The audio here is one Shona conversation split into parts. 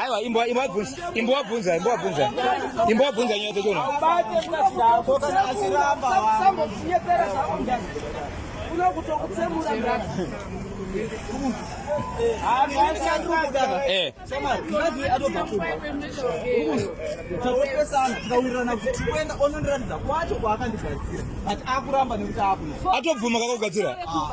Aiwa imbwa imbwa bvunza imbwa bvunza imbwa bvunza imbwa bvunza nyaya dzacho na. Eh. Atobvuma kakugadzira. Ah.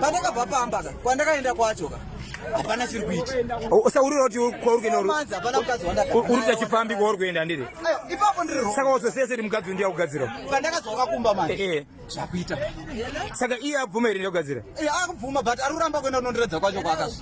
pandakabva pamba ka kwandakaenda kwacho ka hapana chiri kuita usaurira kuti kwauri kuenda uri kuita chifambi kwauri kuenda ndiri ipapo ndiri saka wazosese ti mukadzi ndiya kugadzira pandakazwa kakumba manje eh, eh. zvakuita saka iye abvuma here ndiya kugadzira eh, akubvuma but ari kuramba kuenda kunondiradza kwacho kwaakazva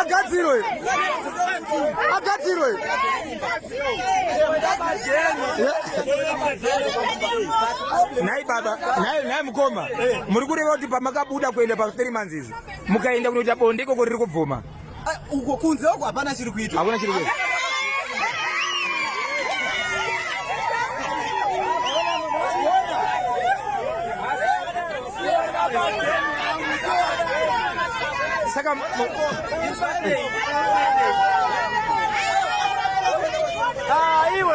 agadzirwe agadzirwe nhai baba nhai mukoma muri kureva kuti pamakabuda kuenda pa 3 months izi mukaenda kunoita bonde ikoko riri kubvuma ah, uko kunze uko hapana chiri kuitwa hakuna chiri kuitwa saka ah, iwe